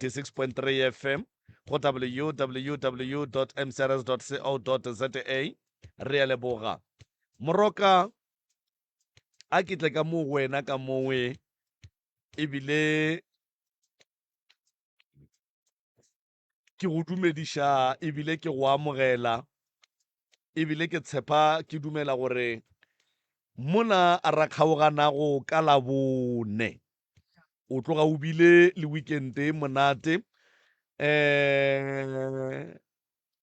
96.3 fm go www mcrs co za re a leboga moroka a ke tle ka mo wena ka mongwe ebile ke go dumediša ebile ke go amogela ebile ke tshepa ke dumela gore mona a ra kgaoganago ka labone o tloga o bile le weekende e monate um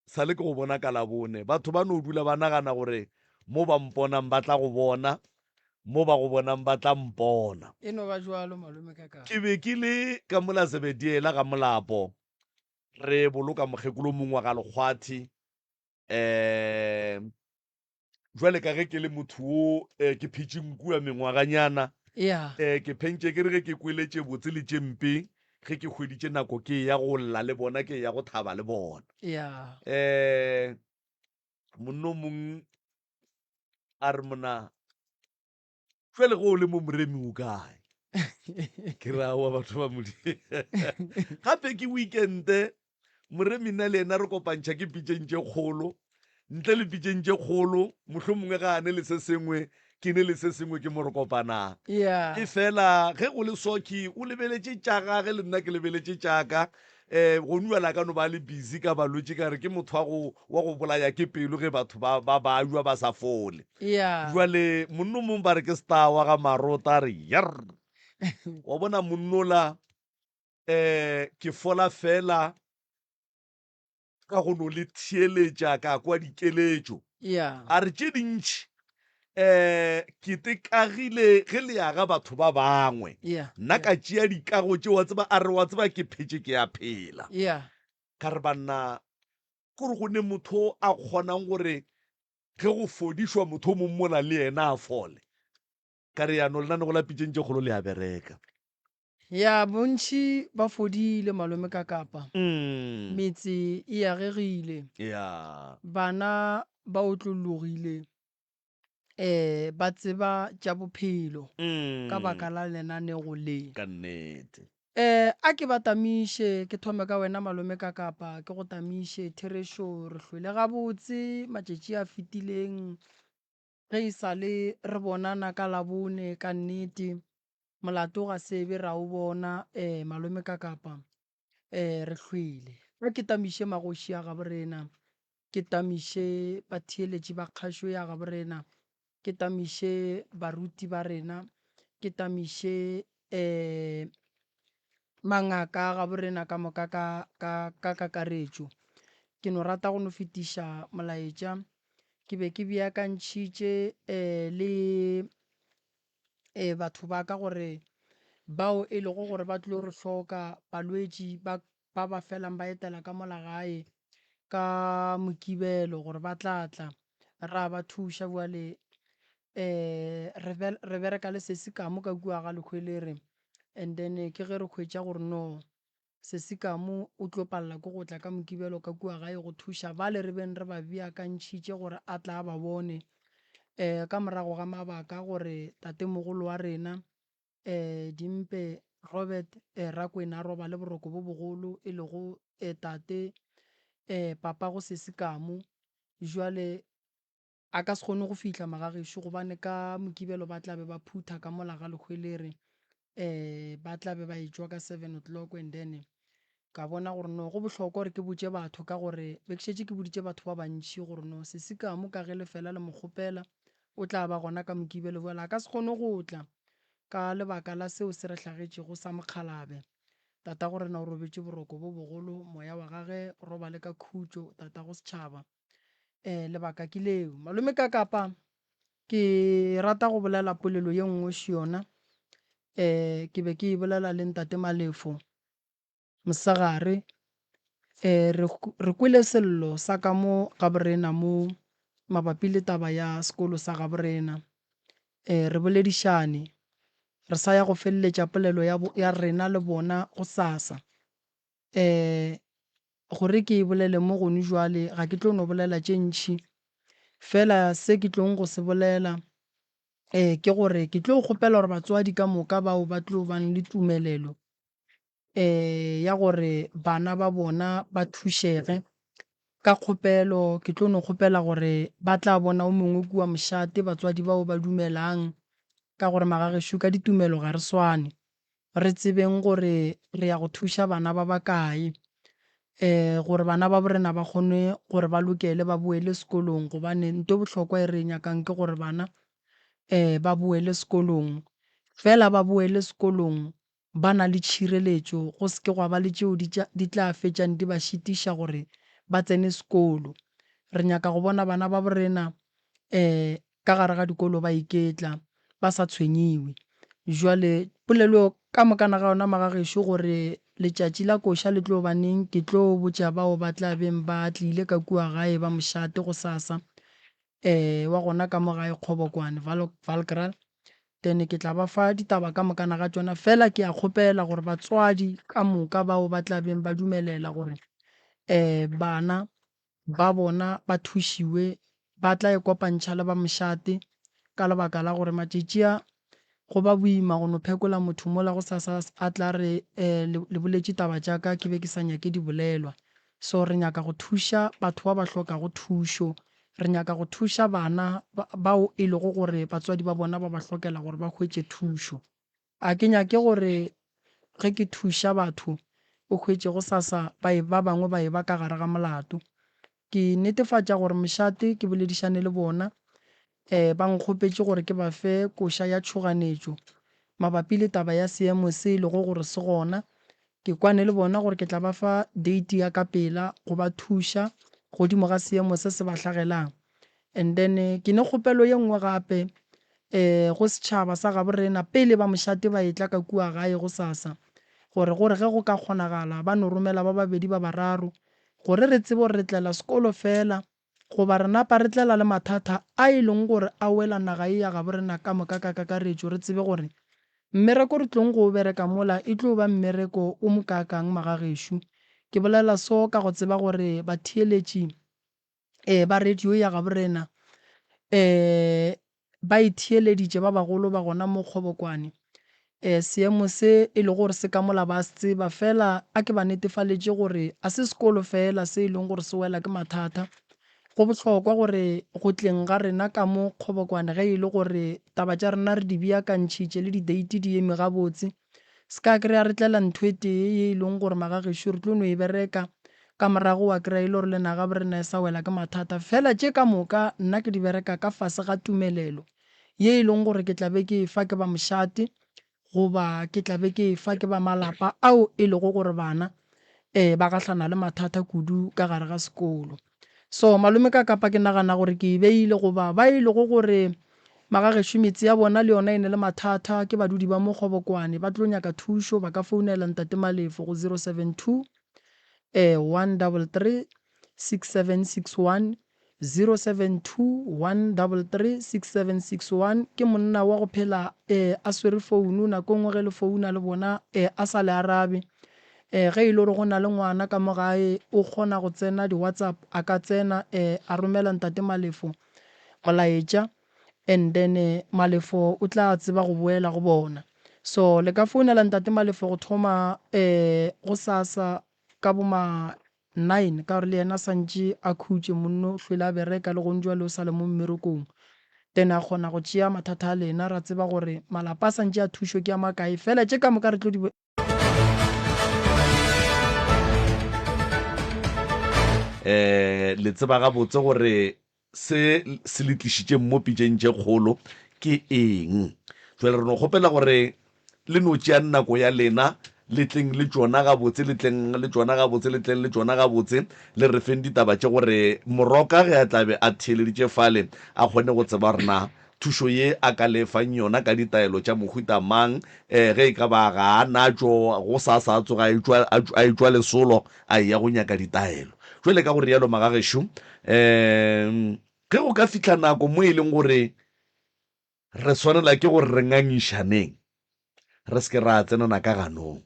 sa le ke go bona ka labone batho ba no dula ba nagana gore mo ba mponang ba tla go bona mo ba go bonang ba tla mpona. E no ba bjalo, malome, ka ka. Ke be ke le ka mola Zebediela ga molapo, re boloka mokgekolo mongwe wa ga Lekgwathi. Um, bjale ka ge ke le motho wo, um, ke phetše nku ya mengwaganyana. Ya. Um, ke phentše ke re ge ke kwele tše botse le tše mpe, ge ke hweditše nako ke eya go lla le bona, ke eya go thaba le bona. Ya. Um, monna o mongwe a re mona jwale go o le mo moremi o kae ke ra wa batho ba modi gape ke weekende moremi nna le ena re kopantšha ke pitseng tše kgolo ntle le pitseng tše kgolo mohlho mongwe ga a ne le se sengwe ke ne le se sengwe ke mo re kopanang yeah. e fela ge go le soki o lebeletše tša gage le nna ke lebeletše tšaka Ee, gonu bjale a ka no ba a le busy ka balwetši, ka re ke motho wa go, wa go bolaya ke pelo ge batho ba, ba ba ywa ba sa fole. Ya. Bjale monna o mongwe ba re ke star wa ga Marota, a re, Yerr! Wa bona monnola, um ke fola feela. ka go no le theeletša ka kwa dikeletšo yeah. a re tše dintši eh ke tekagile ge le yaga batho ba bangwe yeah. nna yeah. ka tšea dikago tše wa tseba a re wa tseba ke phetše ke ya phela yeah. ka re banna kore go ne motho a kgonang gore ge go fodišwa motho o mong mola le yena a fole ka re yano lenanego la pitšeng tše kgolo le a bereka Ya, bontši ba fodile, malome, ka Kapa. Metse e agegile. Ya. Bana ba otlollogile, ee, ba tseba tša bophelo ka baka la lenaneo le. Ka nnete. Ee, a ke ba tamiše. Ke thome ka wena, malome, ka Kapa. Ke go tamiše, Therešo. Re hlwele gabotse matšatši a fetileng. Ge e sa le re bonana ka Labone, ka nnete, molato ga se be ra o bona, ee, malome, ka kapa, ee, re hlwele. A ke tamiše magoši a gabo rena, ke tamiše batheeletši ba kgašo ya gabo rena, ke tamiše baruti ba rena, ke tamiše Ee, mangaka a gaborena ka moka ka, ka, ka kakaretšo. Ke no rata go no fetiša molaetša. Ke be ke beakantšhitše ee, le ee, batho ba ka gore bao e lego gore ba tlilo re hloka, balwetši ba, ba ba felang ba etela ka mola gae ka Mokibelo gore ba tla tla ra ba thuša. Bjale um re bereka le sesi Kamu ka kua ga Lehwelere and then ke ge re hwetša gore no sesi Kamu o tlo palela ke go tla ka Mokibelo ka kua gae go thuša bale re beng re ba beakantšhitše gore a tla a ba bone. Um ka morago ga mabaka gore tatemogolo wa rena Ee, dimpe, Robert, ee, Rakwena a robale boroko bo bogolo, e lego, ee, tate, ee, papa go sese kamu. Bjale, a ka se kgone go fihla, magagešo, gobane ka Mokibelo ba tla be ba phutha ka mola ga lehweleri, ee, ba tla be ba e-tšwa ka seven o'clock, and then Ka bona gore no go bohlokwa gore ke botše batho ka gore be ke šetše ke boditše batho ba bantši gore no sesi ka mo ka ge lefela le mo kgopela o tla ba gona ka Mokibelo bjale a ka se kgone go tla ka lebaka la seo se re hlagetšego sa mokgalabe. Tatagorena o robetše boroko bo bogolo, moya wa gage o robale ka khutšo, tatago setšhaba. Ee, lebaka ke leo. Malome ka kapa ke rata go bolela polelo ye nngwe xo yona, ee, ke be ke e bolela le Ntate Malefo, Mosegare, e, re, re kwele sello sa ka mo gaborena mo, mabapi le taba ya sekolo sa gaborena. E, re boledišane. Re sa ya go feleletša polelo ya, ya rena le bona gosasa. E, gore ke e bolele mo gonu bjale, ga ke tlo no bolela tše ntši. Feela se ke tlong go se bolela, e, ke gore ke tlo kgopela gore batswadi ka moka bao ba tlo bang le tumelelo, ya gore bana ba bona ba thušege. Ka kgopelo ke tlo no kgopela gore ba tla bona o mongwe kua mošate, batswadi bao ba dumelang ka gore magagešo ka ditumelo ga re swane. Re tsebeng gore re ya go thuša bana ba ba kae gore bana ba bo rena ba kgone gore ba lokele ba boele sekolong gobane nto e bohlokwa e re e nyakang ke gore bana ba boele sekolong. Fela ba boele sekolong ba na le tšhireletšo, go se ke gwa ba le tšeo di tla fetšang di ba šitiša gore ba tsene sekolo. Re nyaka go bona bana babo rena ka gare ga dikolo ba iketla, ba sa tshwenyiwe. Bjale polelo eo ka mokana ga yona magagešo gore letšatši la koša le tlo ba neng, ke tlo botša bao ba tla beng ba tlile ka kua gae ba mošate gosasa, wa gona ka mo gae Kgobokwane, Valkraal. then ke tla ba fa ditaba ka mokana ga tšona fela ke a kgopela gore batswadi ka moka bao ba tla beng ba dumelela gore um bana ba bona ba thušiwe ba tla e kopantšha le ba mošate ka lebaka la gore matšatši a go ba boima go no phekola motho mola go sa sa a tla re um le boletše taba tša ka ke be ke sa nyake di bolelwa So re nyaka go thuša batho ba ba hlokago thušo. Re nyaka go thuša bana bao e lego gore batswadi ba bona ba ba hlokela gore ba hwetše thušo. A ke nyake gore ge ke thuša batho o hwetše go sa sa ba e ba bangwe ba e ba ka gare ga molato. Ke netefatša gore mošate ke boledišane le bona Ee, ba nkgopetše gore ke ba fe koša ya tšhoganetšo mabapi le taba ya seemo se e lego gore se gona. Ke kwane le bona gore ke tla ba fa deiti ya ka pela go ba thuša godimo ga seemo se se ba hlagelang. And then ke ne kgopelo ye nngwe gape um go setšhaba sa gabo rena pele ba mošate ba etla ka kua gae gosasa, gore gore ge go ka kgonagala ba no romela ba babedi ba bararo gore re tsebe gore re tlela sekolo fela Goba re napa re tlela le mathata a e lego gore a wela naga ye ya gabo rena ka moka ka kakaretšo, re tsebe gore mmereko re tlogo go o bereka mola e tlo ba mmereko o mokaakang magagešo. Ke bolela so ka go tseba gore batheeletši ba radio ya gabo rena ba e theeleditše ba bagolo ba gona mo kgobokwane, ee, seemo se e lego gore se ka mola ba a se tseba. Feela a ke ba netefaletše gore a se sekolo feela se e lego gore se wela ke mathata. Go bohlokwa gore go tleng ga rena ka mo kgobokwane ge e le gore taba tša rena re di beakantšhitše le dideiti di eme gabotse, Se ka kry-a re tlela ntho e tee ye e leng gore magagešo re tlo no e bereka, ka morago wa kry-a e le gore le naga bo rena e sa wela ke mathata. Fela tše ka moka nna ke di bereka ka fase ga tumelelo ye e leng gore ke tla be ke e fa ke ba mošate goba ke tla be ke e fa ke ba malapa ao e lego gore bana ba gahlana le mathata kudu ka gare ga sekolo. So, malome ka kapa ke nagana gore ke e beile goba ba e lego gore magagešo metse ya bona le yona e ne le mathata, ke badudi ba mo Kgobokwane, ba tlo nyaka thušo, ba ka founela Ntate Malefo go 072-133-6761, 072-133-6761, ke monna wa go phela a swere founu, nako e nngwe ge le founa le bona a sa le arabe. Eh, ge e le gore go na le ngwana ka mo gae, o kgona go tsena di-WhatsApp, a ka tsena, eh, a romela Ntate Malefo molaetša, and then eh, Malefo o tla tseba go boela go bona. So, le ka founela Ntate Malefo go thoma, eh, go sasa ka bo ma nine, ka gore le yena santše a khutše, monno o hlwele a bereka, le gong jwale o sa le mo mmerekong. Then a kgona go tšea mathata a lena, ra tseba gore malapa a santše a thušo ke a makae. Fela tše ka moka re tlo di. eh le tseba gabotse gore se se le tlišitšeng mo pitšeng tše kgolo ke eng jale re no kgopela gore le no tšea nako ya lena le tleng le tšona gabotse le tleng le tšona gabotse le tleng le tšona gabotse le re feng ditaba tše gore moroka ge a tlabe a theeleditše fale a kgone go tseba gore na thušo ye a ka le fang yona ka ditaelo tša mohuta mang, ee, ge e ka ba ga a natšo, go sa sa tsoge a etšwa, a, a etšwa lesolo a eya go nyaka ditaelo. Bjale ka go realo, magagešo, ee, ge go ka fihla nako mo e leng gore re swanela ke gore re ngangišaneng, re se ke ra tsenana ka ganong.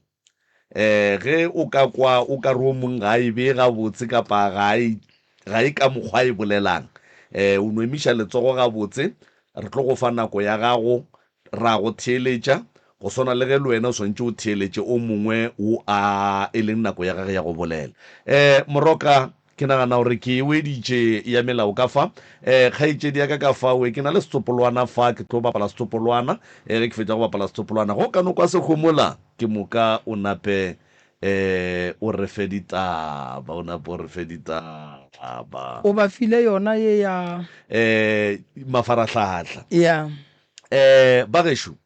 Um ge o ka kwa o ka re o mong ga a e bee gabotse kapa ga a e, ga e ka mokgwa a e bolelang, um o no emiša letsogo gabotse, re tlo go fa nako ya gago ra go theeletša, go swana le ge le wena o swanetše o theeletše o mongwe wo a e leng nako ya gagwe ya go bolela. Um moroka. Ke nagana gore ke e weditše ya melao ka fa. Eh, kgaetšedi ya ka ka fa we, ke na le setsopolwana fa, ke tlo bapala setsopolwana. Eh, ge ke fetša go bapala setsopolwana, ge o ka no kwa se homola, ke moka o nape eh, o re fe ditaba, o nape o re fe ditaba. O ba file yona ye ya. Eh, mafarahlahla. Yeah. Eh, bagešo,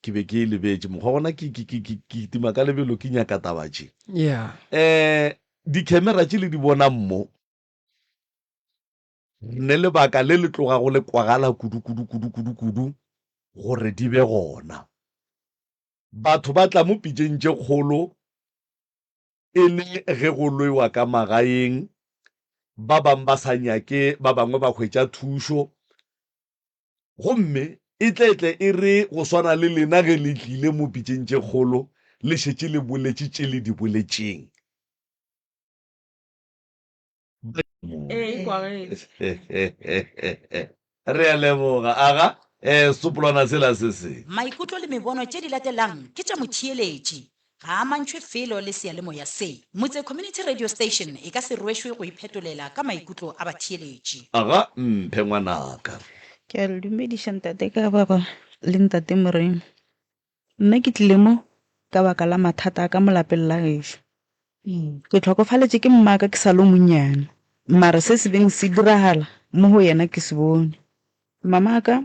Ke be ke e lebetše mokgwa gona ke, ke, ke, ke, ke kitima ka lebelo ke nyaka taba tše. Yeah. Eh, dikhemera tše le di bonang mo, re ne lebaka le le tloga go le kwagala kudu, kudu, kudu, kudu, kudu, gore di be gona. Batho ba tla mo pitšeng tše kgolo e le ge go lwewa ka magaeng, ba bang ba sa nyake ba bangwe ba hwetša thušo, Gomme e tle tle e re go swana le lena ge le tlile mo pitšeng tše kgolo, le šetše le boletše tše le di boletšeng. Re a leboga. Aga, ee, setsopolwana sela se se. Maikutlo le mebono tše di latelang ke tša motšheeletši. Ga a amantšhwe felo le seyalemoya se. Motse Community Radio Station e ka se rwešwe go iphetolela ka maikutlo a batheeletši. Aga mphe ngwanaka. Ke a le dumediša Ntate Kababa le Ntate Moremi. Nna ke tlile mo ka baka la mathata a ka mo lapeng la gešo. Ke tlhokofaletše ke mmaka ke sa lo monnyane, mare se se beng se diragala mo go yena ke se bone. Mamaka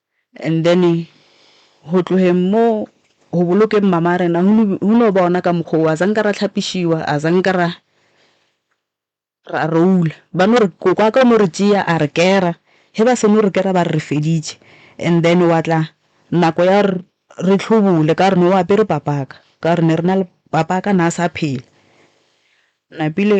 And then go tlogeng mo go bolokeng mama rena go no ba ona ka mokgwa o a zanka ra tlhapišiwa a zanka ra ra roula ba no re koko wa ka o no re tšea a re kera ge ba seno re kera ba re re feditše and then wa tla nako ya gore re tlhobole ka gore ne o apere papa ka ka gore ne re na le papa ka na sa phela napile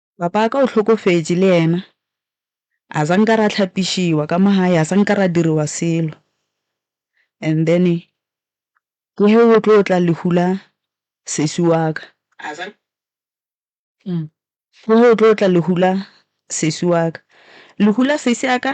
Papa ka o hlokofetše le yena. A sa nka ra hlapišiwa ka mo gae, a sa nka ra diriwa selo. And then ke ge go tlo tla lehu la sesi wa ka. A sa Ke ge go tlo tla lehu la sesi wa ka. Lehu la sesi ya ka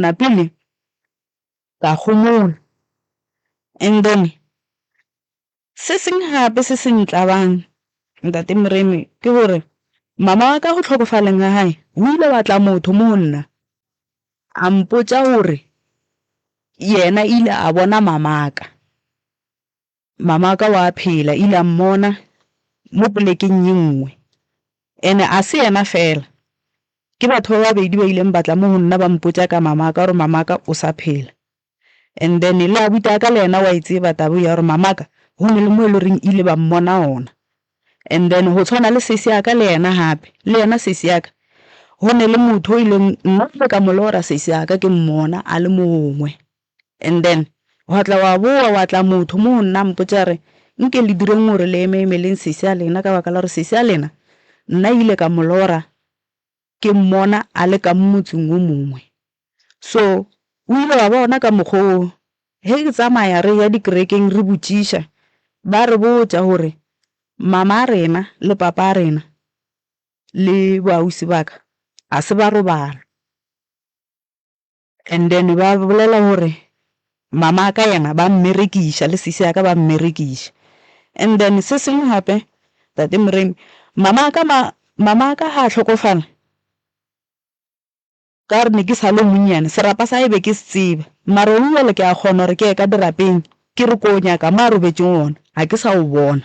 napile ka homola and then se seng gape se se ntlabang ntate Moremi ke gore mama wa ka go tlhokofaleng ga hae o ile wa tla motho mo go nna a mpotša gore yena ile a bona mamaka. Mamaka o a phela, ile a mmona mo polekeng ye nngwe. Ene a se yena feela. Ke batho ba babedi ba ileng ba tla mo go nna ba mpotša ka Mamaka gore Mamaka o sa phela. And then le abuti a ka le yena o a e tseba taba eo ya gore Mamaka go ne le mo e le goreng ile ba mmona gona. And then go tshwana le sesi ya ka le yena gape, le yena sesi ya ka go ne le motho o ileng nna ke ile ka mo lora sesi ya ka ke mmona a le mo gongwe. And then wa tla wa boa wa tla motho mo nna mpotsa re nke le direng gore le eme emeleng sesi ya lena ka baka la gore sesi ya lena nna ile ka molora ke mmona a le ka motseng o mongwe so o ile wa bona ka mokgwa o he ke tsamaya re ya dikerekeng re botšiša ba re botsa gore mama rena le papa rena le boausi baka ga se ba robala And then ba bolela gore mama ka yena ba mmerekiša le sisi yaka ba mmerekiša. And then se sengwe gape tate Moremi mama ka ma mama ka ga hlokofala ka gore ne ke sa le monnyane serapa sa ebe ke se tseba mara gone bjale ke a kgona gore ke ye ka dirapeng ke re ko nyaka mo a robetšeng gona ga ke sa o bona.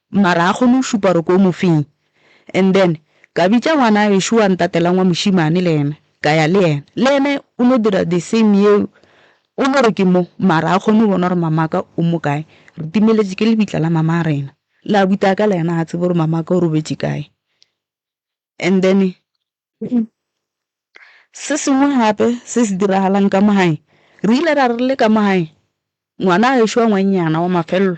Mara a kgone go šupa gore ke o mofeng. And then ka bitša ngwana gešo wa ntatelang wa mošimane le yena ka ya le yena. Le yena o no dira the same yeo. O no re ke mo mara a kgone go bona gore mamaka o mo kae. Re timeletše ke lebitla la mama rena. Le abuti a ka le yena ga tsebe gore mamaka o robetše kae. And then se sengwe gape se se diragalang ka mo gae, re ile ra re le ka mo gae ngwana gešo wa ngwannyana wa mafelelo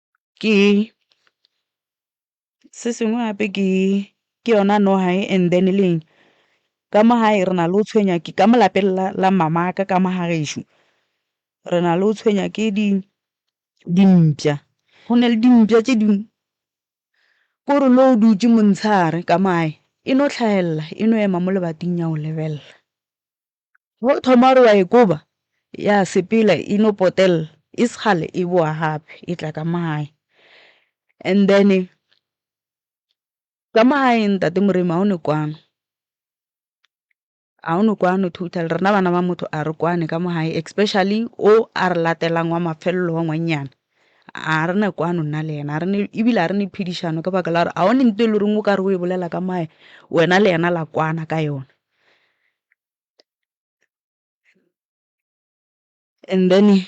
ke se sengwe gape ke ke yona nogae and then le eng ka mo gae re na le go tshwenya ke ka mo lapeng la la mamaka ka mo ga gešo re na le go tshwenya ke di dimpša go na le dimpša tše dingwe ko re lo dutše montshegare ka mo gae e no hlagelela e no ema mo lebating ya go lebelela. Go thoma gore wa e koba, ya sepela e no potelela e se kgale e bowa gape e tla ka mo gae. And then ka mo gae ntate Moremi ga o ne kwano, ga o ne kwano totally. Rena bana ba motho ga re kwane ka mo gae especially o a re latelang wa mafelelo wa ngwannyana, ga re na kwano nna le ena. Ebile ga re ne phedišano ka baka la gore ga o ne ntho e le goreng o ka re o e bolela ka mo gae wena le ena la kwana ka yona. And then,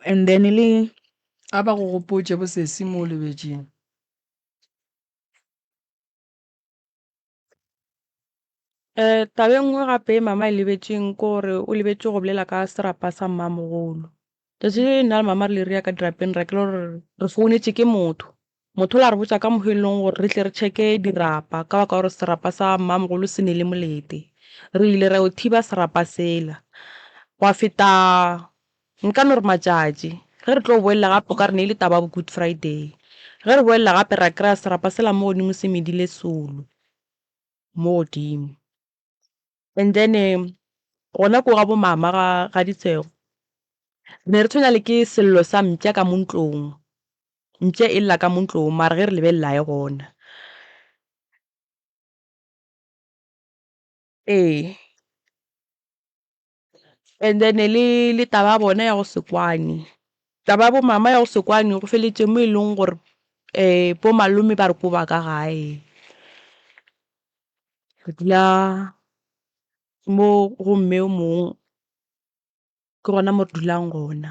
and then le a ba go gopotše bosesi mo o lebetšeng. Eh, taba e nngwe gape mama e lebetšeng ke gore o lebetše go bolela ka serapa sa mmamogolo. Tšatši le nna le mama re le re ya ka dirapeng ra kelo re re founetše ke motho. Motho o la re botša ka mohelong gore re tle re tšheke dirapa ka baka gore serapa sa mmamogolo se ne le molete. Re ile ra yo thiba serapa sela. Gwa feta nka no re matšatši ge re tlo boelela gape o ka re ne e le taba ya bo Good Friday. Ge re boelela gape ra kry-a serapa sela mo godimo se medile solo mo godimo. and then gona ko ga bo mama ga ga ditshego re ne re tshwenya le ke sello sa mpša ka mo ntlong mpša e lla ka mo ntlong mara ge re lebelelae gona ee And then le taba ya bona ya go se kwane, taba ya bo mama ya go se kwane go feletše mo e leng gore bo malome ba re ko ba ka gae. Re dula mo go mme o mongwe, ke gona mo re dulang gona.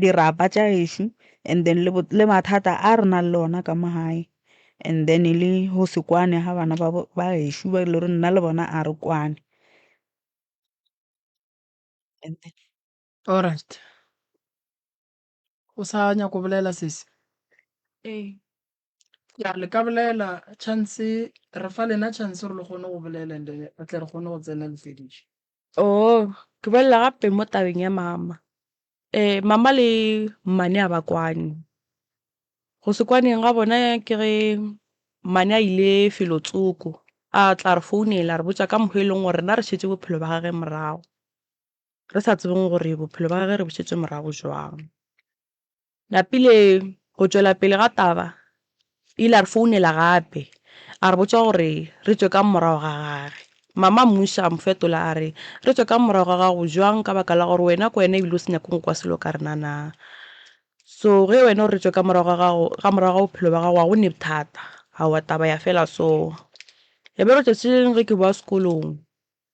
dirapa tša gešo and then le, le mathata a re nang le ona ka mo gae and then le go se kwane ga bana ba, ba gešo ba e le gore nna le bona a re kwane. Alright. O sa nyako bolela sesi? Ee. Ya le ka bolela chance re fa lena chance gore le kgone go bolela and re tle re kgone go tsena le fediše. Oh, ke bolela gape mo tabeng ya mama. Eh, mama le mmane a ba kwane. Go se kwaneng ga bona ke ge mmane a ile felo tsoko. A tla re founela re botsa ka mokgwa e leng gore rena re šetse bophelo ba gage morago. Re sa tsebeng gore bophelo ba gage re bo šetse morago jwang. Lapile go tšwela pele ga taba, o ile a re founela gape a re botša gore re tšwe ka morago ga gage. Mama mmuši a mo fetola a re, Re tšwe ka morago ga gago bjang ka baka la gore wena ke wena e bile o se nyake go kwa selo ka rena na? So ge wena o re re tšwe ka morago ga gago, ka morago ga bophelo bja gago ga go ne bothata. Aowa taba ya fela so. Re be re tšetše eng ge ke bowa sekolong?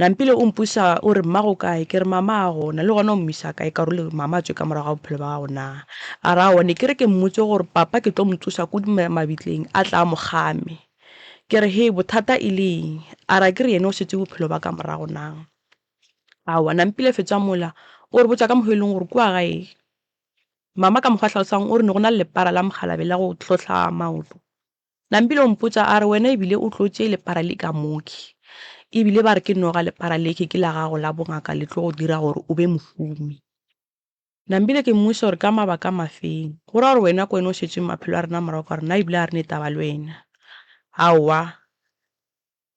Nampile o mpusa o re, Mmago kae? Ke re, Mama a gona. Le gona o mmisa kae? Ka role Mama a tswe ka morago ga bophelo ba gago na? A re, Aowa, ne ke re ke mmotse gore Papa ke tlo mo tsosa kudu mabitleng a tle a mo kgame. Ke re, Hee, bothata e le eng? A re, Akere yena o setse bophelo ba ka morago na? Aowa, Nampile fetsa mola. O re botša ka mokgwa o e leng gore ke wa gae. Mama ka mokgwa a hlalosang o re ne go na le lepara la mokgalabe la go hlohla maoto. Nampile o mpotša a re, Wena e bile o tlotše lepara le ka moki, e bile ba re ke noga lepara leke ke la gago la bongaka le tlo go dira gore o be mohumi. Nampile ke mmotšiša gore ka mabaka mafeng. Go ra gore wena ke wena o šetšeng maphelo a rena morago ka gore nna e bile ga re ne taba le wena. Aowa.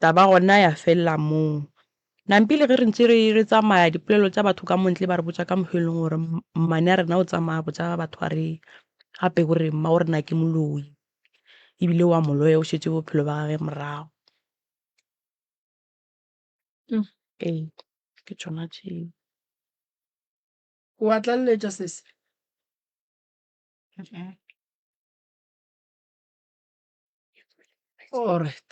Taba gona ya felela moo. Nampi le ge re ntše re re tsamaya, dipolelo tša batho ka mo ntle ba re botša ka mohla e leng gore mmane a rena o tsamaya a botša batho a re gape o re mma o rena ke moloi e bile o a mo loya, o šetše bophelo ba gagwe morago. Ee, ke tšona tšeo. O a tlaleletša sesi? Alright.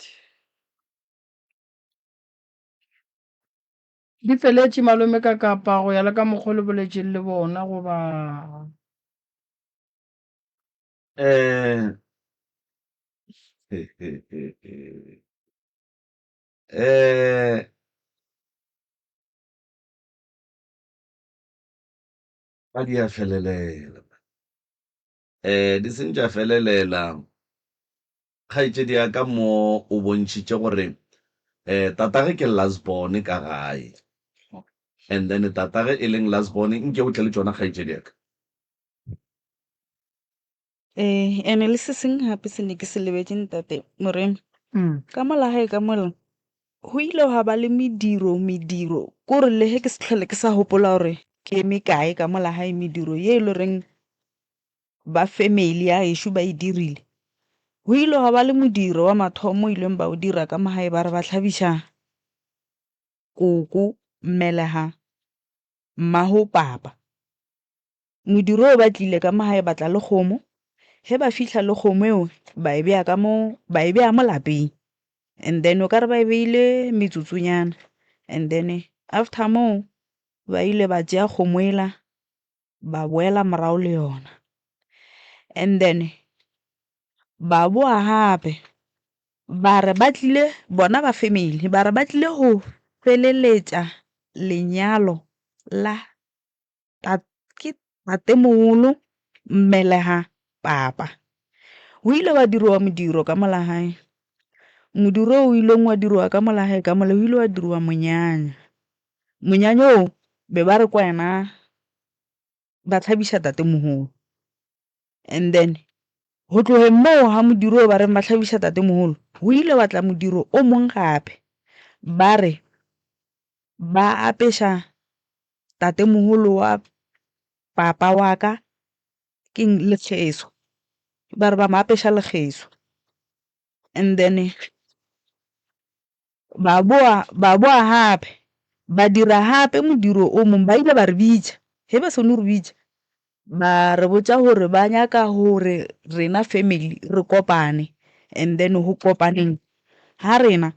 Di feletše malome ka kapa go ya le ka mokgwa le boletšeng le bona goba Eh, eh, ga di a felelela Di seng tša felelela. Kgaetšedi ya ka mo o bontšhitše gore tatagwe ke Lasbone ka gae, and then tatagwe e leng Lasbone. Nke o tle le tšona kgaetšedi ya ka. Ee, and-e le se seng gape se ne ke se lebetše, ntate Moremi. Ka mola gae ka mola, Go ile gwa ba le mediro, mediro, kore le ge ke se tlhole ke sa gopola gore ke eme kae ka mo lagae, mediro ye e le goreng ba family ya gešo ba e dirile. Go ile gwa ba le modiro wa mathomo o ileng ba o dira ka mo gae, ba re ba hlabiša koko, mmelega, mmago papa. Modiro o ba tlile ka mo gae batla le kgomo, ge ba fihla le kgomo eo ba e beya ka mo ba e beya mo lapeng and then o ka re ba e beile metsotsonyana and then after moo ba ile ba tšea kgomo ela ba boela morago le yona. And then ba bowa gape ba re ba tlile bona ba family ba re ba tlile go feleletša lenyalo la. ke tatemogolo mmelega papa go ile gwa diriwa modiro ka molagae modiro o ileng wa diriwa ka molagae ka mole go ile wa diriwa monyanya monyanya o be ba re ke wena ba tlhabisa tatemogolo. And then go tlogeng moo ga modiro o ba reng ba tlhabiša tatemoholo go ile wa tla modiro o mong gape ba re ba apeša tatemoholo wa papa wa ka ke lekgeso ba re ba mo apeša lekgeso and then Ba boa, ba boa gape, ba dira gape modiro o mongwe, ba ile ba re bitša. Ge ba seno re bitša, ba re botša gore ba nyaka gore rena family re kopane, and then go kopaneng ga rena,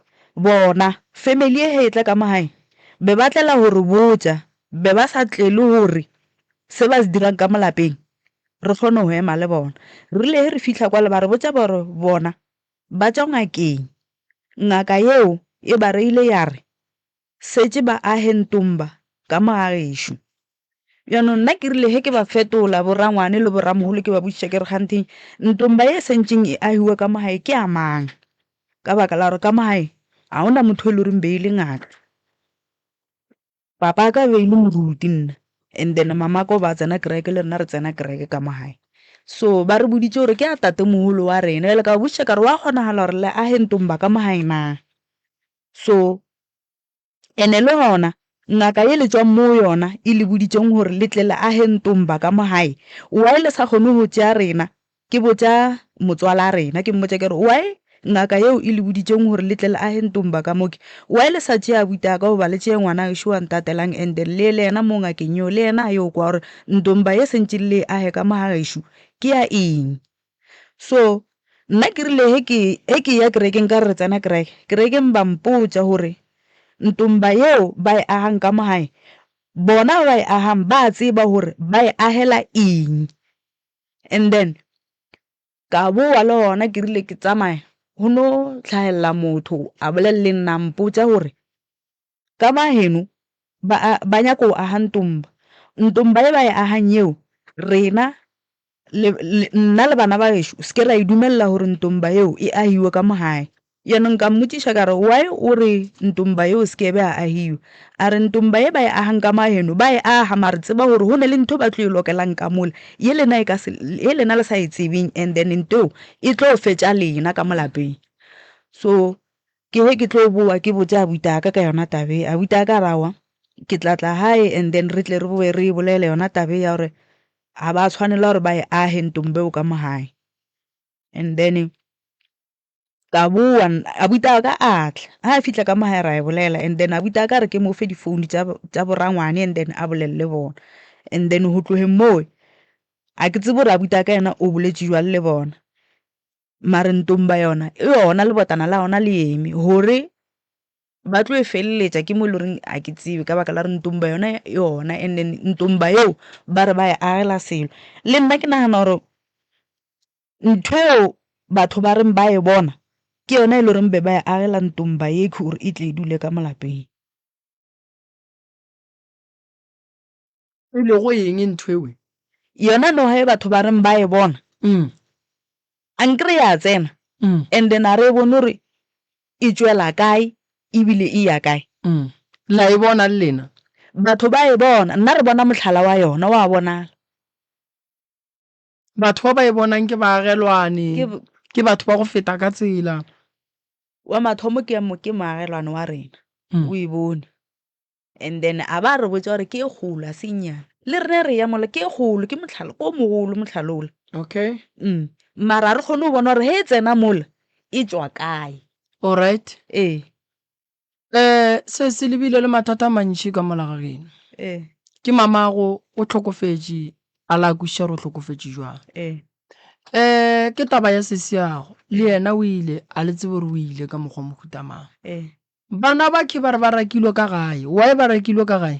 bona family ye ge e tla ka mo gae, be ba tlela go re botša, be ba sa tlele gore se ba se dirang ka mo lapeng re kgone go ema le bona. Re rile ge re fihla kwala, ba re botša ba re bona Ba tšwa ngakeng. Ngaka yeo e ba reile ya re, Setše ba ahe ntomba ka mo ga gešo. Bjanong nna ke rile ge ke ba fetola, borangwane le boramogolo, ke ba botšiša ke re, Kganthe ntomba ye e sentšeng e ahiwa ka mo gae ke ya mang? Ka baka la gore ka mo gae ga go na motho yo e le goreng be e le ngaka. Papa aka be e le moruti nna and then mamaka o ba tsena kereke le rena re tsena kereke ka mo gae so ba re boditše gore ke a tate mogolo wa rena bjale ka ba botšiša ka re wa kgonagala gore le age ntomba ka mo gae na so ene le gona ngaka ye le tswang mo yona e le boditšeng gore le tle le age ntomba ka mo gae why le sa kgone go tšea rena Ke botša motswalaa rena, ke mmotša ke re, Why ngaka yeo e le boditšeng gore le tle le ahe ntomba ka mo? Ke why le sa tšea abuti a ka goba le tšee ngwana gešo wa ntatelang and then le ye le yena mo ngakeng yeo le yena a yo kwa gore ntomba ye sentše le e ahe ka mo ga gešo ke ya eng? So nna ke rile ge ke ge ke eya kerekeng ka re re tsena kereke, kerekeng ba mpotša gore ntomba yeo ba e ahang ka mo gae bona ba e ahang ba a tseba gore ba e ahela eng? and then ka bowa le gona ke rile ke tsamaya go no tlhagelela motho a bolelele nna mpotsa gore ka ba heno ba nyaka go aga ntomba ntomba e ba e agang yeo rena nna le bana ba geso se ke ra e dumelela gore ntomba yeo e agiwe ka mo gae Yaanong ka mmotšiša ka re, Why o re ntomba ye o se ke be a ahiwa? A re, Ntomba ye ba e ahang ka mo aheno, ba e aha, mare tseba gore go na le ntho ba tlo e lokelang ka mola, ye lena e ka se, ye lena le sa e tsebeng, and then ntho eo e tlo fetša lena ka mo lapeng. So ke he ke tlo boa ke botše abuti ya ka ka yona taba ye. Abuti ya ka a re, Aowa, ke tla tla gae and then re tle re boe re e bolele yona taba ye ya gore ga ba tshwanela gore ba e ahe ntomba eo ka mo gae. And then ka boa abuti a ka a tla a fitlha ka mo gae ra e bolela and then abuti a ka re ke mo fe difounu tsa borangwane and then a bolelele bona and then go tlogeng moo a ke tsebo gore abuti a ka yena o boletse jwang le bona mare ntong ba yona e yona lebotana la yona le eme gore ba tlo e feleletsa ke mo e le goreng a ke tsebe ka baka la re ntong ba yona yona and then ntong ba eo ba re ba e agela selo le nna ke nagana gore Ntho eo batho ba reng ba e bona ke yona e le goreng be ba e agela ntomba yekhi gore e tle e dule ka molapeng. E lego eng ntho eo? Yona noga e batho ba reng ba e bona a nkere ya tsena and then a re e bone gore e tšwela kae ebile e ya kae. La e bona le lena? Batho ba e bona, nna re bona mohlala wa yona, wa bonala. Batho ba ba e bonang ke baagelwane, ke batho ba go feta ka tsela. Wa mathomo ke moagelwane wa rena, mm. o e bone and then a ba re botsa gore ke e golo a senyana le rene re ya mola ke e golo ke motlhalo ko mogolo motlhalola okay mm mara a re kgone go bona gore he e tsena mola e tswa kae allright ee um se se lebile le mathata a mantši ka mola ga geno ee ke mamago o tlhokofetše a la kwešiša gore o tlhokofetše jwang ee um ke taba ya sesiago le yena o ile a le tsebe gore o ile ka mokgwa o mohutamang ee bana ba khe ba re ba rakilwe ka gae wae ba rakilwe ka gae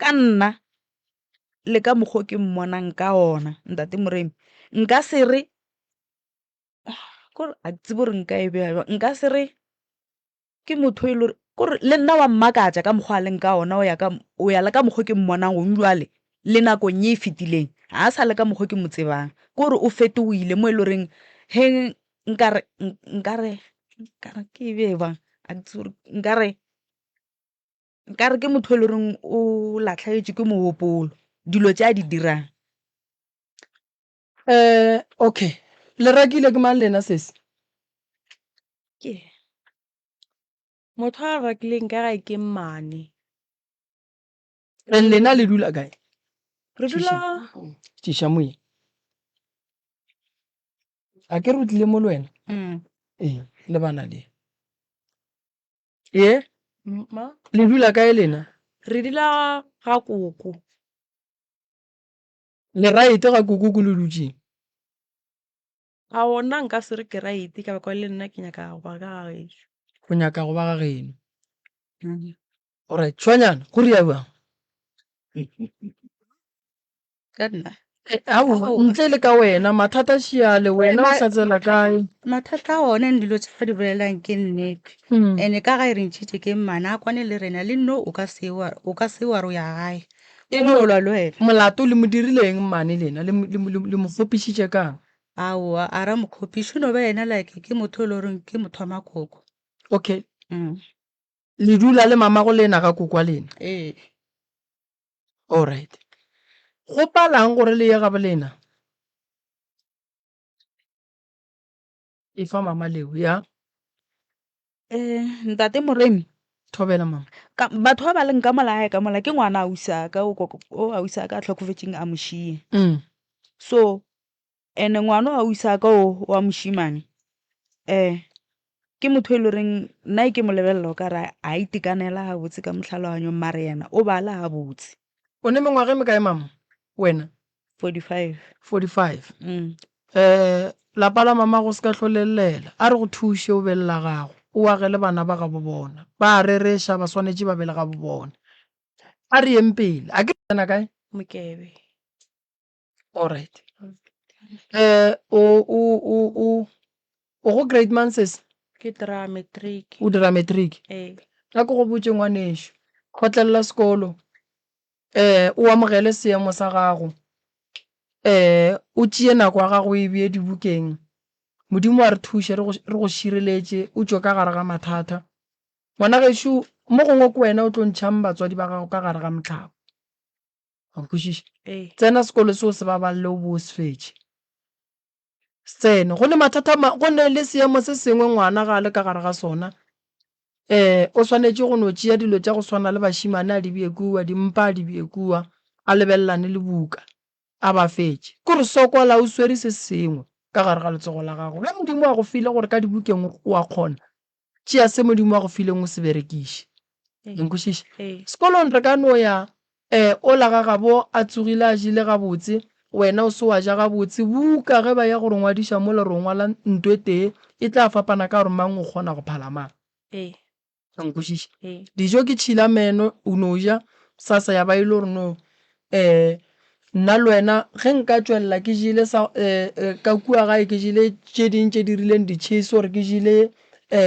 Ka nna le ka mokgwa o ke mmonang ka ona, Ntate Moremi, nka se re, kore a ke tsebe gore nka e beya bjang, nka se re ke motho e le gore, kore le nna wa mmakatša ka mokgwa a leng ka ona, o ya ka, o ya le ka mokgwa o ke mmonang gong bjale le nakong ye e fetileng. Ga a sa le ka mokgwa o ke mo tsebang, kore o fetohile mo e le goreng ge nkare, nkare, nkare ke e beye bjang, a ke tsebe gore, nkare. nka re ke motho e le goreng o latlhegetswe ke mogopolo dilo tse a di dirang um okay le rakile ke mang lena sese ke motho a rakileng ka gae ke mmane and lena le dula kae re dula tiša moye a ke re o tlile mo le wena mm. ee le bana le Ye? Ma? Le dula kae lena? Re dula ga koko. Le raite ga koko ko le dutšeng? A ona nka se re ke raite ka baka le nna ke nyaka go ba ka ga gešo. Go nyaka go ba ga geno. Alright, tshwanyana, go ria bjang? ka nna ao ntle le ka wena mathata šiale wena o sa tsela kae mathata a one dilo tse ba di bolelang ke nnete hmm. and-e ka ga e re ntšhitše ke mmana a kwane le rena le nno o ka se wa ro ya gae e molwa le wena molato le mo dirileng mmane lena le mo kgopišitše kang aowa a ra mokgopiše no ba ena like ke motho e le goreng ke motho wa makoko okay mm. le dula le mamago lena ga kokwa lena ee Alright. Go palang gore le ye gabolena? Efa mama leo, ya. Eh, ntate Moremi. Thobela mama. Ka batho ba ba leng ka mola gae ka mola ke ngwana ausi a ka o ausi a ka a tlhokofetseng a mošie. Mm. So And ngwano ga o isa ka o wa mošimane um ke motho e le goreng nna e ke mo lebelela o ka re a itekanela ga botse ka motlhaloganyong mare yena o bala ga botse. O ne mengwaga e mekae mama wena? 45. 45 um lapa la mama go se ka hlolellela a re go thuše o be le la gago o agele bana ba gabo bona ba a rereša ba swanetše ba be le gabo bona a re yeng pele a ke tsena kae? Mokebe. Alright. Eh, o, o, o, o, o go grade mang sese? ke dira matric O dira matric. ee A ko go botse ngwanešu. Kgotlelela sekolo. Eh, o amogele seemo sa gago. Eh, o tšee nako ya gago o e bee dibukeng. Modimo a re thuše, re go, re go šireletše, o tšwe ka gare ga mathata. Ngwana gešo, mo gongwe ke wena o tlo ntšhang batswadi ba gago ka gare ga mohlaba. a nkwešiša tsena sekolo seo se babalele o bo se fetše se tsene go ne mathata go ne le seemo se sengwe ngwana ga a le ka gare ga sona um o swanetše go no tšea dilo tša go swana le bašimane a di bje kua dimpa a di bje kua a lebelelane le buka a ba fetše ke gore sokola o swere se sengwe ka gare ga letsogo la gago ge modimo a go file gore ka dibukeng o a kgona Tšea se Modimo a go fileng o se berekiše. Le nkwešiša? Sekolong re ka no ya, um, ola ga gabo a tsogile a jele gabotse, wena o se wa ja gabotse, buka ge ba ya go re ngwadiša mola re o ngwala nto e tee, e tla fapana ka gore mang o kgona go phala mang. Le nkwešiša? Dijo ke tšhila meno, o no ja, sasa ya ba e le gore no Ee, nna le wena ge nka tšwelela ke jele sa, ka kua gae ke jele tše ding tše di rileng ditšhese or ke jele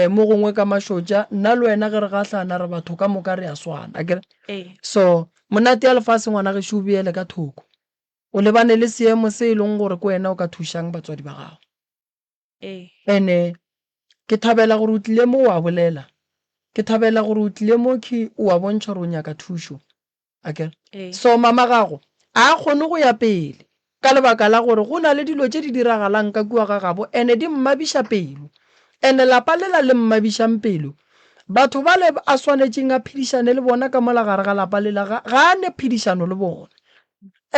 mo gongwe ka mašotša, nna le wena ge re gahlana re batho ka moka re a swana. Akere? So, monate ya lefase ngwana gešo o beele ka thoko. O lebane le seemo se e leng gore ke wena o ka thušang batswadi ba gago. Ee. And-e ke thabela gore o tlile mo o a bolela. Ke thabela gore o tlile mo khe o a bontšha gore o nyaka thušo. Ake? Ee. So mama gago a a kgone go ya pele ka lebaka la gore go na le dilo tše di diragalang ka kua ga gabo and-e di mmabiša pelo. And-e lapa lela le mmabišang pelo, batho bale a swanetšeng a phedišane le bona ka mola gare ga lapa lela ga, ga a ne phedišano le bona.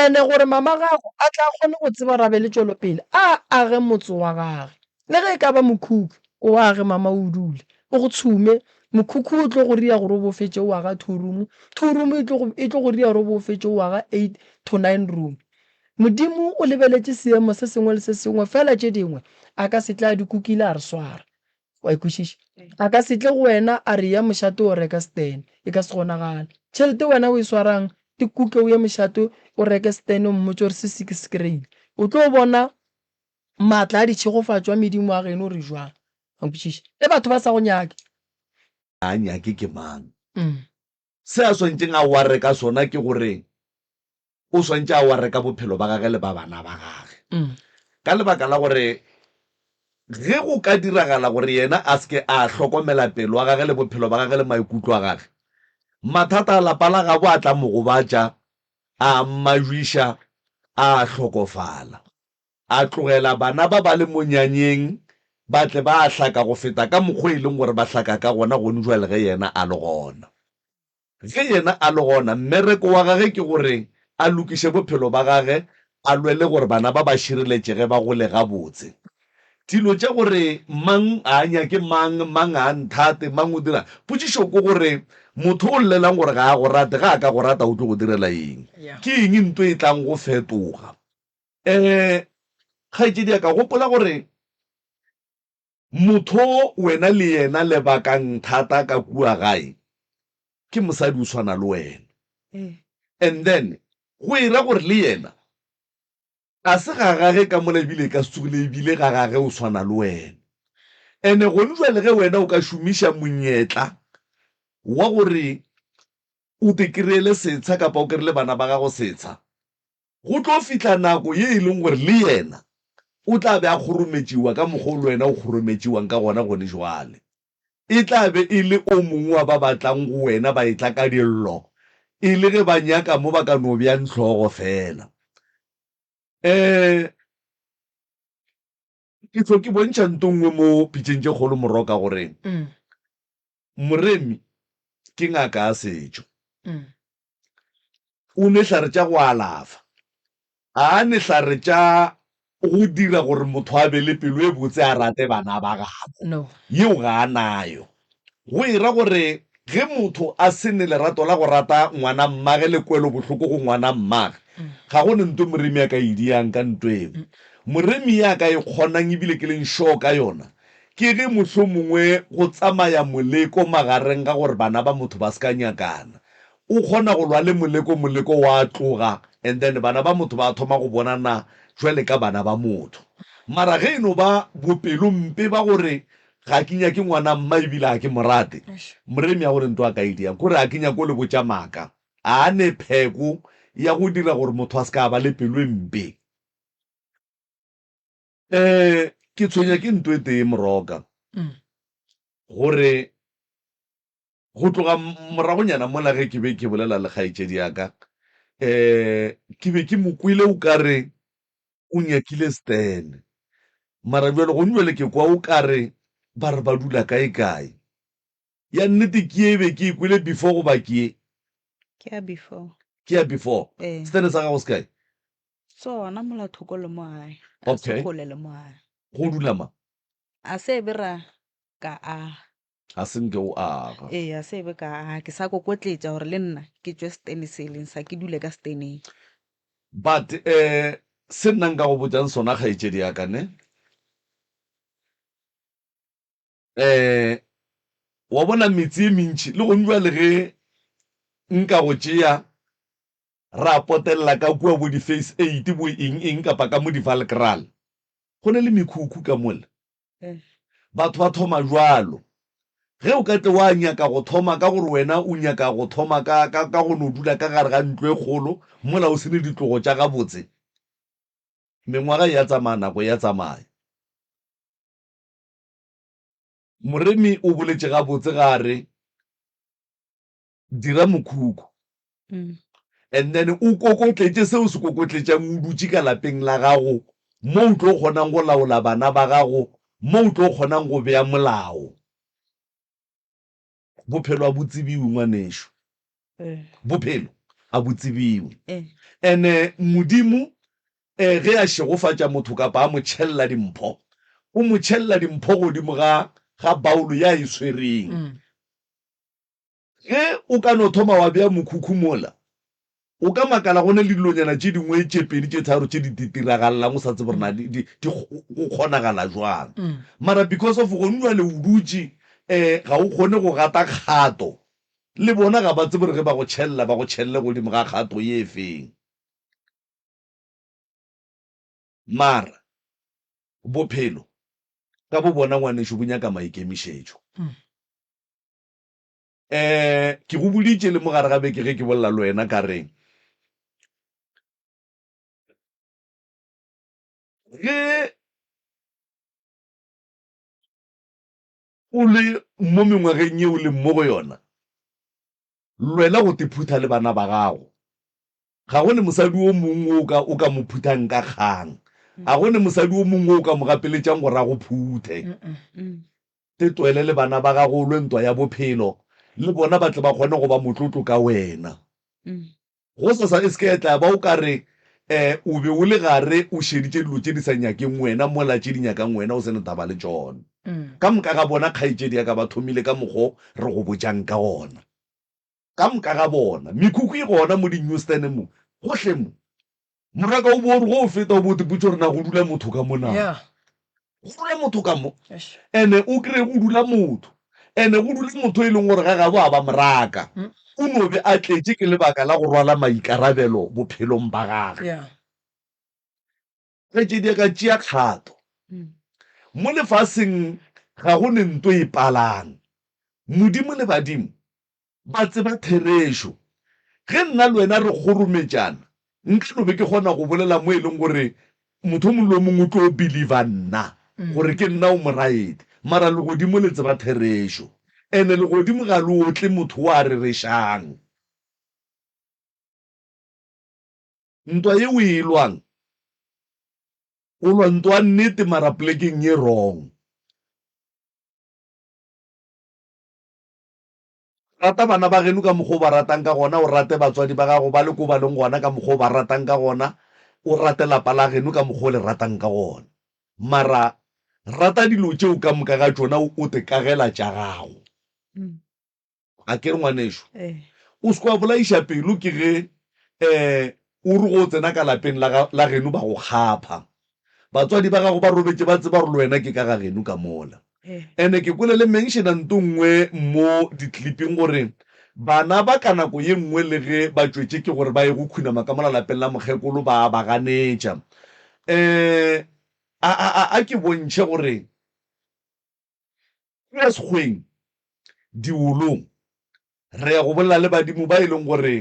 And-e gore mamagago a tla kgone go tseba rabe le tšwelopele, a age motse wa gage. Le ge e ka ba mokhukhu, o age mama o dule, o go tshume. Mokhukhu o tlo go ria gore o bo fetše o aga two room, two room e tlo go, e tlo go ria gore o bo fetše o aga eight to nine room. Modimo o lebeletše seemo se sengwe le se sengwe, fela tše dingwe a ka se tle a di kukile a re swara. Wa e kwešiša? A ka se tle go wena a re, Eya mošate o reke setene. E ka se kgonagale. Tšhelete wena o e swarang, e kuke o ye mošate o reke setene o mmotše gore se se ke se kry-ile. O tlo bona maatla a ditšhegofatšo a medimo a geno gore jwang. Wa nkwešiša? Ge batho ba sa go nyake. A nyake ke mang? Se a swanetšeng a warre ka sona ke gore o swanetše a warre ka bophelo ba gage le ba bana ba gage, ka lebaka la gore ge go ka diragala gore yena a se ke a hlokomela pelo ya gage le bophelo ba gage le maikutlo a gage, mathata a lapa la gabo a tla mo gobatša, a mmajwiša, a hlokofala. A tlogela bana ba ba le monyanyeng ba tle ba hlaka go feta ka mokgwa e leng gore ba hlaka ka gona gonjwale ge Yena a le gona. Ge Yena a le gona, mmereko wa Gage ke gore A lokiše bophelo ba Gage, A lwele gore bana ba ba šireletšege ba gole gabotse. Dilo tša gore mang a nyake mang, mang a nthate, mang o dira, potšišo ke gore, Motho o llelang gore ga a go rate, ge a ka go rata o tlo go direla eng? Ke eng nto e tlang go fetoga? Ee, kgaetšediaka, gopola gore motho o wena le yena le bakang thata ka kua gae ke mosadi o swana le wena. And then go e ra gore le yena ga se ga gage ka mola ebile e ka se tsogile ebile ga gage o swana le wena. And gone jwale ge wena o ka šomiša monyetla wa gore o te kry-ele setsha kapa o kry-ele bana ba gago setsha, Go tlo fihla nako ye e leng gore le yena o tla be a kgorometšiwa ka mokgwa o le wena o kgorometšiwang ka gona gone bjale. E tla be e le o mongwe wa ba ba tlang go wena ba etla ka dillo, e le ge ba nyaka mo ba ka no bjang hlogo feela. Ee. Ke tlo ke bontšha nto nngwe mo pitšeng tše kgolo moroka gore moremi ke ngaka ya setšo. O nwe hlare tša go alafa. Ga a nwe hlare tša go dira gore motho a be le pelo e botse a rate bana ba gabo. Yeo ga a nayo. Go e ra gore ge motho a se ne lerato la go rata ngwanammage le kwelobohloko go ngwanammage, ga go ne nto moremi a ka e diang ka nto eo. Moremi ya ka e kgonang e bile ke leng sure ka yona ke ge mohlomongwe go tsamaya moleko magareng ga gore bana ba motho ba se ka nyakana. O kgona go lwa le moleko, moleko wa tloga and then bana ba motho ba thoma go bonana jwale ka bana ba motho. Mara ge e no ba bopelompe ba gore Ga ke nyake ngwana mma e bile ga ke mo rate. Moremi a gore ntwa ka e diang kore ga ke nyake go le botša maaka. A ne pheko ya go dira gore motho a se ka ba le pelo e mpe. Ee, ke tshwenya ke nto e tee, Moroka, gore Go tloga moragonyana mola ge ke be ke bolela le kgaetšedi ya ka, ke be ke mo kwele o ka re o nyakile Stan. Mara bjale gone bjale ke kwa o ka re ba re ba dula kaekae. Ya nnete ke ye e be ke e kwele before goba ke ye? Ke ya before. Ke ya before. Ee. Stan sa gago se kae? Se gona mola thoko le mo gae, ga se Okay. kgole le mo gae. Go dula mang? A se be ra ka a Ga se nke o aga. Ee, a se ebe ka aga. Ke sa kokotletša gore le nna ke tšwe setene se e leng sa, ke dule ka seteneng. But um se nna nka go botšang sona kgaetšedi ya ka, ne, um wa bona metse e mentši le gong bjale ge nka go tšea ra potelela ka kua bo di-Phase Eight, bo eng-eng kapa ka mo di-Valkraal, go na le mekhukhu ka mola. Batho ba thoma bjalo. Ge o ka tle wa nyaka go thoma ka gore wena o nyaka go thoma ka, ka, ka go no dula ka gare ga ntlo e kgolo mola o se ne ditlogo tša gabotse, mengwaga e ya tsamaya, nako e ya tsamaya. Moremi o boletše gabotse ge a re, dira mokhukhu mm. and then o kokotletše se o se kokotletšang o dutše ka lapeng la gago mo o tlo kgonang go laola bana ba gago mo o tlo kgonang go bea molao bophelo a bo tsebiwe ngwanešo eh. bophelo a bo tsebiwe eh. ene modimo um ge a šegofatša motho kapa a mo tšhelela dimpho o mo tšhelela dimpho godimo ga ga baolo ya e tshwereng mm. Ge o ka no thoma wa bea mokhukhu mola, o ka makala go na le dilonyana tše dingwe tše pedi tše tharo tše di ditiragalelang o sa tsebe gore na di, di, di, go kgonagala jwang. Mara because of gone jwale o dutše, um ga o kgone go gata kgato. Le bona ga ba tsebe gore ge ba go tšhelela ba go tšhelele godimo ga kgato ye feng. Mara bophelo ka bo bona ngwanešu bo nyaka maikemišetšo. um ke go boditše le mogare ga beke ge ke bolela le wena ka reng ge o le mo mengwageng yeo le mo go yona lwela go tephutha le bana ba gago Ga go ne mosadi wo mongwe wo o ka, o ka mo phuthang ka kgang. Ga go ne mosadi wo mongwe wo o ka mo gapeletšang gore a go phuthe. Te tloele le bana ba gago o lwe ntwa ya bophelo, le bona ba tle ba kgone go ba motlotlo ka wena. Gosasa e se ke ya tla ya ba o ka re um o be o le gare o šeditše dilo tše di sa nyakeng wena mola tše di nyakang wena o se ne taba le tšona. Ka moka ga bona kgaetšedi ya ka ba thomile ka mokgwa o re go botšang ka gona. Ka moka ga bona, mekhukhu e gona mo dinyustene mo, gohle mo. Morwa ka o bo o re go o feta, o bo o tipotše gore na go dula motho ka mo na. Yeah. Go dula motho ka mo. Eish. Ene o kry go dula motho. Ene go dula motho e leng gore ga gabo a ba moraka. O no be a tletše ke lebaka la go rwala maikarabelo bophelong ba gage. Yeah. Kgaetšedi a ka tšea kgato. Mo lefaseng ga go ne nto e palang. Modimo le badimo ba tseba therešo. Ge nna le wena re kgorometšana, nka no be ke kgona go bolela mo e leng gore motho o mongwe le o mongwe o tlo believer nna gore ke nna o moraedi. Mara legodimo le tseba therešo. And legodimo ga le otle motho o a rerešang. Ntwa ye o e lwang, o lwa ntwa nnete mara plekeng ye wrong. Rata bana ba geno ka mokgwa o ba ratang ka gona, o rate batswadi ba gago ba le ko ba leng gona ka mokgwa o ba ratang ka gona, o rate lapa la geno ka mokgwa o le ratang ka gona. Mara rata dilo tšeo ka moka ga tšona o te kagela tša gago. A ke re ngwanešu, o se ke wa bolaiša pelo ke ge um o re go o tsena ka lapeng la, la geno ba go kgapha. Batswadi ba gago ba robetše ba tseba gore le wena ke ka ga geno ka mola. And ke kwele le mention-a nto nngwe mo di-clip-ing gore bana ba ka nako ye nngwe le ge ba tšwetše ke gore ba ye go khunama ka mola lapeng la mokgekolo ba a ba ganetša. Um a, a, a, a ke bontšhe gore Go ya sekgweng, diwolong, re ya go bolela le badimo ba e leng gore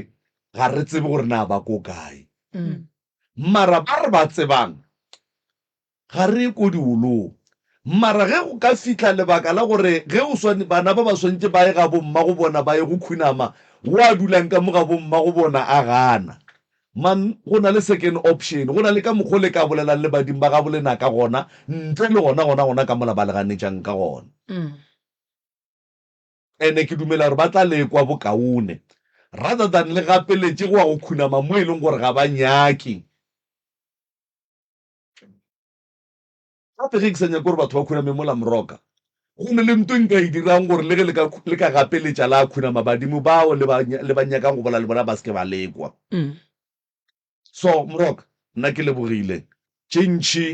ga re tsebe gore na ba ko kae. Mara ba re ba tsebang, ga re ye ko diwolong. Mara ge go ka fihla lebaka la gore ge o swane, bana ba ba swanetše ba ye ga bommagobona ba ye go khunama, wo a dulang ka mo ga bommagobona a gana, Man, go na le second option. Go na le ka mokgwa o le ka bolelang le badimo ba gabo lena ka gona, ntle le gona, gona, gona ka mola ba le ganetšang ka gona. And ke dumela gore ba tla le ekwa bokaone, rather than le gapeletše go wa go khunama mo e leng gore ga ba nyake. Gape ge ke sa nyake gore batho ba khuname mola moroka, go na le nto e nka e dirang gore le ge le ka, le ka gapeletša la khunama badimo bao le ba, le ba nyakang go bolela le bona ba se ke ba le kwa. So, moroka, nna ke lebogile. Tše ntši,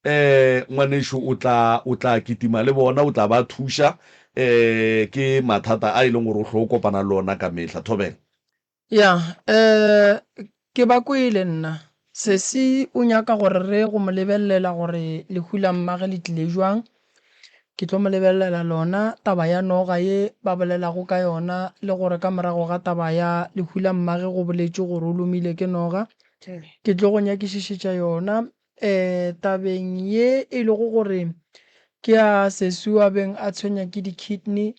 um, ngwanešu o tla, o tla kitima le bona, o tla ba thuša. Um, ke mathata a e leng gore o hlo kopana le ona ka mehla. Thobela. Ya, um ke ba kwele nna. Sesi o nyaka gore re go mo lebelelela gore lehu la mmage le tlile jwang. Ke tlo mo lebelelela lona taba ya noga ye ba bolelago ka yona le gore ka morago ga taba ya lehu la mmage go boletšwe gore o lomile ke noga. Ke tlo go nyakišišetša yona Ee, tabeng ye e lego gore ke a seswi a beng a tshwenya ke di-kidney,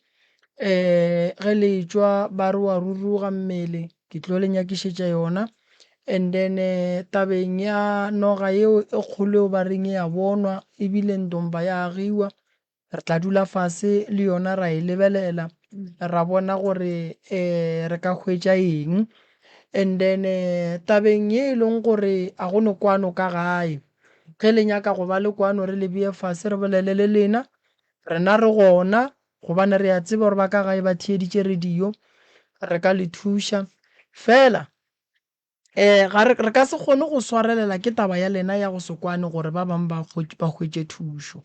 ee, ge le etšwa ba re wa ruruga mmele, ke tlo le nyakišetša yona. And then tabeng ya noga yeo e kgolo yeo ba reng e a bonwa, ebile ntompa ya agiwa, Re tla dula fase le yona ra e lebelela, ra bona gore um re ka hwetša eng. And then tabeng ye e leng gore a go no kwano ka gae, ge le nyaka go ba le kwano re le beye fase re bolele le lena, rena re gona gobane re a tseba gore ba ka gae ba theeditše radio, re ka le thuša. Fela um ga re, re ka se kgone go swarelela ke taba ya lena ya go se kwane gore ba bang ba ba hwetše thušo.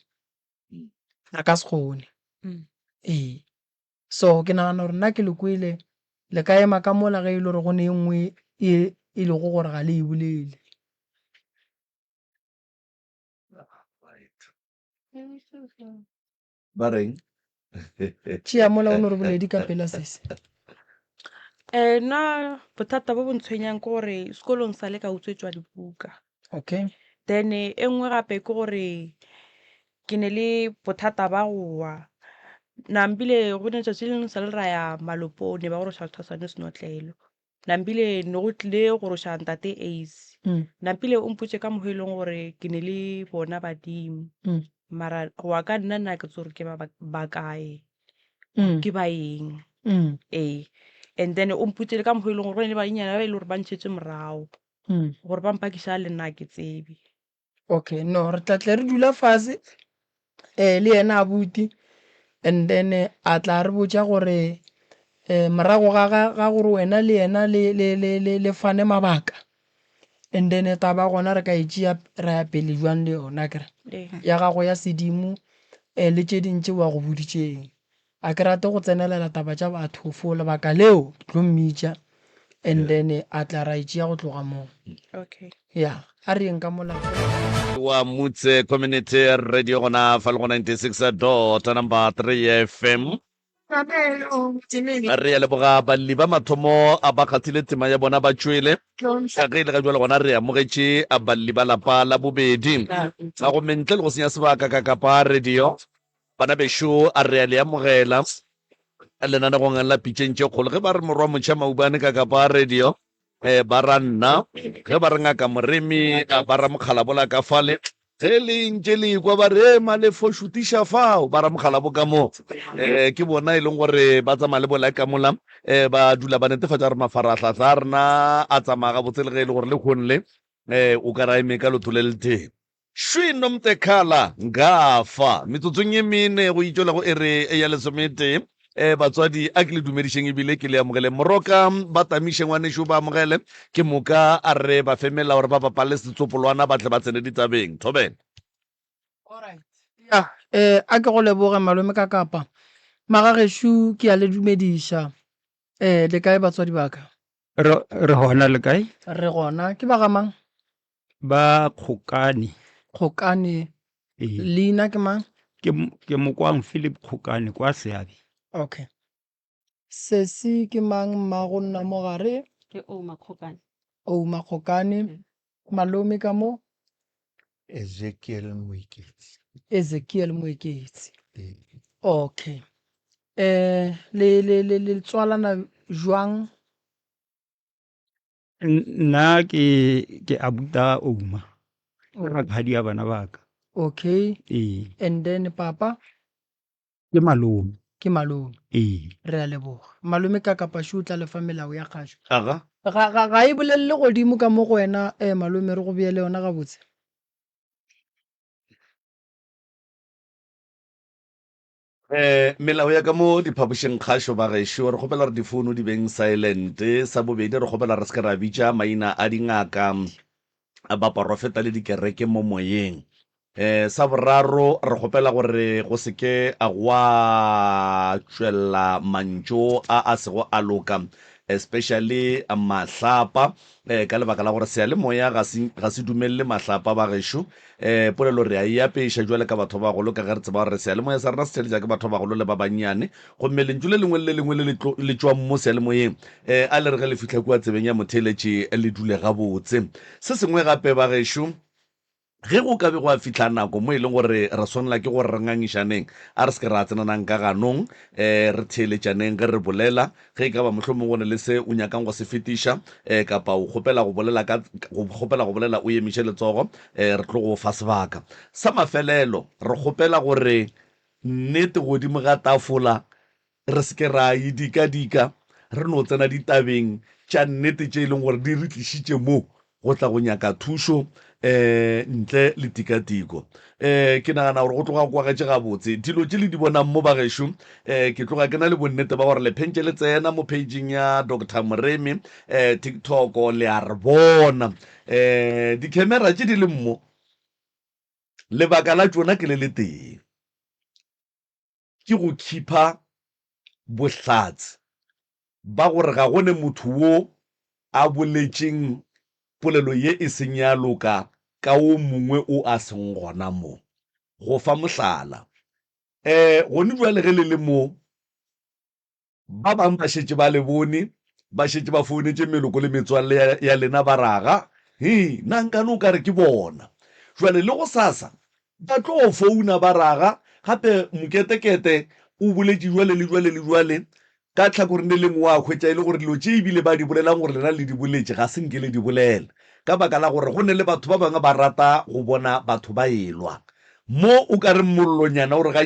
a ka se kgone ee so ke nagana gore nna ke le kwele le ka ema ka mola ge e le gore go ne e nngwe e e lego gore ga le e bolele ba reng Tšea mola o no re boledi ka pela sese. Eh, na bothata bo bo ntshwenyang ke gore sekolong sa le ka utswetswa dibuka. Okay. Then e nngwe gape ke gore ke ne le bothata ba go wa. Nambile go ne tšatši le leng sa le ra ya malopone ba go re tshwasa tshwasa ne senotlelo. Nampile ne go tlile go roša ntate Ace. Mm. Nampile o mpotše ka mogo e leng gore ke ne le bona badimo. Mm. Mara go wa ka nna nna ke tse gore ke ba ba kae. Mm. Ke ba eng. Mm. Ee. And then o mpotše le ka mogo e leng gore go ne le banyenyana ba e le gore ba ntšhetswe morago. Mm. Gore ba mpakisa le nna ke tsebe. okay no re tla tle re dula fase um le yena abuti and then a tla re botša gore um morago ga gore wena le yena le fane mabaka and then taba gona re ka e tšea ra ya pele jwang le yona kere ya gago ya sedimo um le tše dintši wa go boditšeng A ke rate go tsenelela taba tša batho for lebaka leo ke tlo mmitša and then a tla ra e tšea go tloga moo. Okay. Ya, a re yeng ka mola. wa Mutse Community Radio gona fa le go 96 dot number 3 FM. Re a leboga balli ba mathomo a ba kgathile tema ya bona ba tšwele ka ge e le ga jwale gona re amogetše balli ba lapa la bobedi a go mentle le go senya sebaka ka kapa radio Bana bešo, a re a le amogela lenanegong la Pitšeng tše Kgolo. Ge ba re Morwa Motšha Maubane ka ka ba radio, ba ra nna. Ge ba re Ngaka Moremi, ba ra Mokgalabo la ka fale. Ge le ntše le ekwa ba re, Malefo šutiša fao, ba ra Mokgalabo ka mo. Ke bona e leng gore ba tsamaya le bolae ka mola. Ba dula ba netefatša gore mafarahlahla a rena a tsamaya gabotse le ge e le gore lehohong le o ka re a eme ka leoto le letee. Šwi Nomtekhala, Nka fa. Metsotsong ye mene go itšwela go iri ya lesometee. E, batswadi, a ke le dumedišeng e bile ke le amogeleng. Moroka, ba tamiše ngwanešu o ba amogele. Ke moka a re ba fe melao gore ba bapale setsopolwana ba tle ba tsene ditabeng. Thobela. Ya, e, a ke go leboge, malome ka kapa. Magagešo, ke a le dumediša. E, le kae batswadi ba ka? Re, re gona, le kae? Re gona. Ke ba ga mang? Ba Kgokane. Kgokane. Ee. Leina ke mang? Ke, ke Mokwang Philip Kgokane kwa Seabe. Okay. Sesi ke mang mmago nna mo gare? Ke Ouma Kgokane. Ouma Kgokane. Mm. Malome ka mo? Ezekiel Moeketsi. Ezekiel Moeketsi. Ee. Okay. Eh, le, le, le, le tswalana jwang? nna ke ke abuta ouma o rakhadi ya bana baka okay ee and then papa ke malome ke malome ee re a leboga malome ka kapa shu tla lefa melao ya kgasho aga ga ga ga e bolelele godimo ka mo go wena eh malome re go beele yona gabotse Um melao ya ka mo diphapošing kgašo ba gešo re kgopela gore difouno di beng silent sa bobedi re kgopela re se ke ra bitša maina a dingaka baporofeta le dikereke mo moyeng um sa boraro re kgopela gore go se ke gwa tšwela mantšo a a sego a loka especially mahlapa Ee, ka lebaka la gore seyalemoya ga se, ga se dumelele mahlapa, bagešo. Ee, polelo re a e apeša bjale ka batho ba bagolo, ka ge re tseba gore seyalemoya sa rena se theletša ke batho ba bagolo le ba bannyane. Gomme lentšu le lengwe le le lengwe le le, tlo, le tšwang mo seyalemoyeng, ee, a le re ge le fihla kua tsebeng ya motheeletši, le dule gabotse. Se sengwe gape, bagešo, Ge go ka be gwa fihla nako mo e lego gore re swanela ke gore re ngangišaneng, a re se ke ra tsenanang ka ganong. Ee, re theeletšaneng ge re bolela. Ge e ka ba mohlomongwe go na le se o nyakang go se fetiša, ee, kapa o kgopela go bolela ka, o kgopela go bolela, o emiše letsogo, ee, re tlo go o fa sebaka. Sa mafelelo, re kgopela gore nnete godimo ga tafola Re se ke ra e dika-dika re no tsena ditabeng tša nnete tše e lego gore di re tlišitše mo go tla go nyaka thušo um ntle le tikatiko. Um ke nagana gore go tloga kwa getše gabotse dilo tše le di bonang mo, bagešo. Um ke tloga ke na le bonnete ba gore le phentše le tsena mo pageng ya Doctor Moremi um TikTok, le a re bona um dikhemera tše di leng mo, lebaka la tšona ke le le tee. ke go khipha bohlatse ba gore ga go ne motho wo a boletšeng polelo ye e seng ya loka ka wo mongwe o a seng gona mo. Go fa mohlala, ee, gone bjale ge le le mo, Ba bang ba šetše ba le bone, ba šetše ba founetše meloko le metswalle ya, ya lena, ba ra ga, He, na nkane o ka re ke bona? Bjale, le gosasa ba tlo founa, ba ra ga, Gape Moketekete o boletše bjale le bjale le bjale, ka tlhakoreng le lengwe wa hwetša e le gore dilo tše e bile ba di bolelang gore lena le di boletše ga se nke le di bolela, ka baka la gore go ne le batho ba bangwe ba rata go bona batho ba e-lwa. Mo o ka reng mollonyana o re ga.